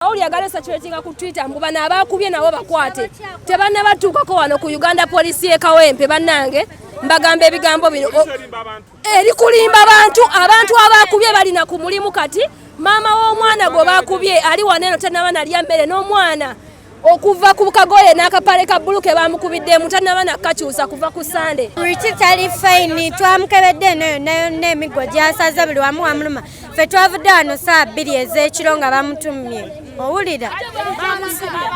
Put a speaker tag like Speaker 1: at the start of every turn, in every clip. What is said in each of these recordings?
Speaker 1: Kauli ya Galesa Kiwetinga ku Twitter mbu bano abaakubye nabo bakwate tebannabatuukako wano ku Uganda poliisi y'e Kawempe bannange mbagamba ebigambo bino eri kulimba bantu abantu abaakubye balina ku mulimu kati maama w'omwana gwe baakubye ali wano eno tannaba nalya mmere n'omwana okuva ku kagoye n'akapale ka bbulu ke baamukubiddemu tannaba nakakyusa kuva ku sande riki tali fayini
Speaker 2: twamukebedde eno yonna yonna emiggo gyasaze buli wamu wamuluma ffe twavudde wano saa bbiri ez'ekiro nga bamutumye owulira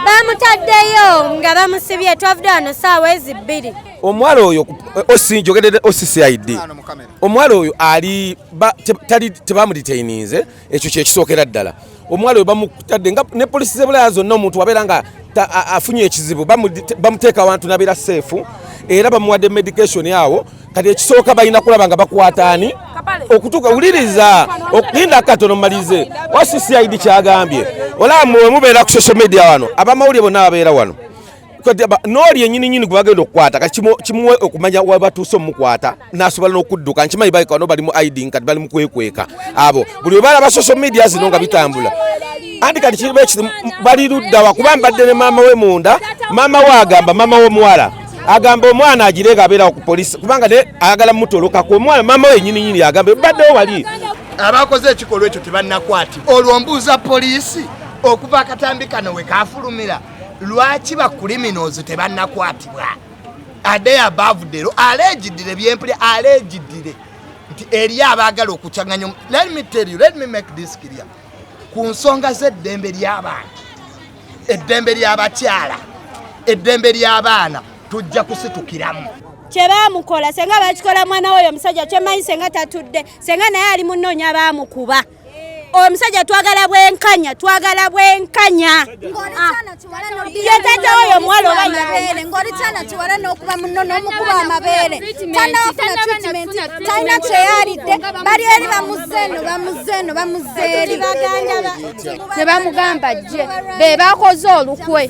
Speaker 2: bamutaddeyo nga bamusibye twavudde wano saawa ezi bbiri omuwala oyo
Speaker 3: osinjogedede occid omuwala oyo ali tebamuditaininze ekyo kyekisookera ddala omwalo webamutadde nga ne polisi zebulaya zonna omuntu wabeera nga afunye ekizibu bamuteeka awantu nabeera seefu era bamuwadde medication awo kati ekisooka balina kulaba nga bakwataani okutuuka wuliriza okulinda katono mumalize wasicid kyagambye olaba mwemubeera ku social media wano abamawulire bonna babeera wano n'oli enyini nyini gwe bagenda okukwata kati kimuwe okumanya wabatuuse omukwata nasobola n'okudduka nkimanyi baleka no bali mu iding kati bali mu kwekweka abo buli webalaba social media zino nga bitambula anti kati kiriba ekiti bali luddawa kuba mbadde ne maama we munda maama we agamba maama w'omuwala agamba omwana agireega abeerawo ku polisi kubanga ne ayagala mutolokako omwana maama we enyini nyini agamba ebaddewo wali abakoze
Speaker 4: ekikolwa ekyo tebanakwatibwa olwo mbuuza poliisi okuva akatambi kano we kafulumira lwaki ba criminals tebannakwatibwa ade abavudero alejidire byempuli alejidire nti eri abaagala okucanganya let me tell you let me make this clear ku nsonga z'eddembe ly'abantu eddembe ly'abakyala eddembe ly'abaana tujja kusitukiramu kyebamukola
Speaker 2: senga bakikola mwana woyo omusajja kyemanyi senga tatudde senga naye ali munoonya bamukuba omusajja twagala bwenkanya twagala bwenkanya ah. yetata oyo omuwala obaere ngoli
Speaker 5: kyana kiwala n'okuba muno n'omukuba amabeere tanafuna treatment talina kyeyalidde bali eri bamuzeeno bamuzeeno bamuzeeri ne bamugamba
Speaker 6: jje be bakoze olukwe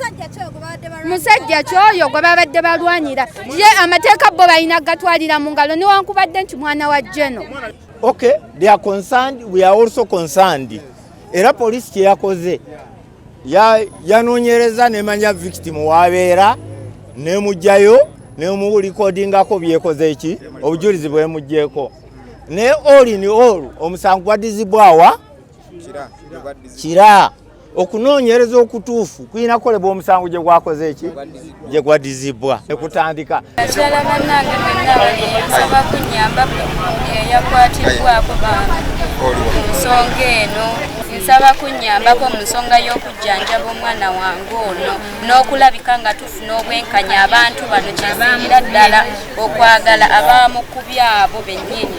Speaker 6: musajja kyoyo gwe babadde balwanira ye amateeka bo balina gatwalira mu ngalo newankubadde nti mwana wa jeno Okay,
Speaker 7: they are concerned, we are also concerned. Era police kyeyakoze yanoonyereza nemanya victim wabeera nemugjayo nemulikodingako byekoze eki obujulizi bwemugjeeko naye all in all omusango gwadizibwawa kira okunoonyereza okutuufu kulina kukolebwa omusango gye gwakoze eki gye gwadizibwa ekutandika akyala bannange
Speaker 6: mwenna nsaba kunyamba eyakwatiddwako bantu nsonga eno nsaba kunyambako mu nsonga y'okujjanjaba omwana wange ono n'okulabika nga tufuna obwenkanya abantu bano kyeziira ddala okwagala abamukubya abo bennyini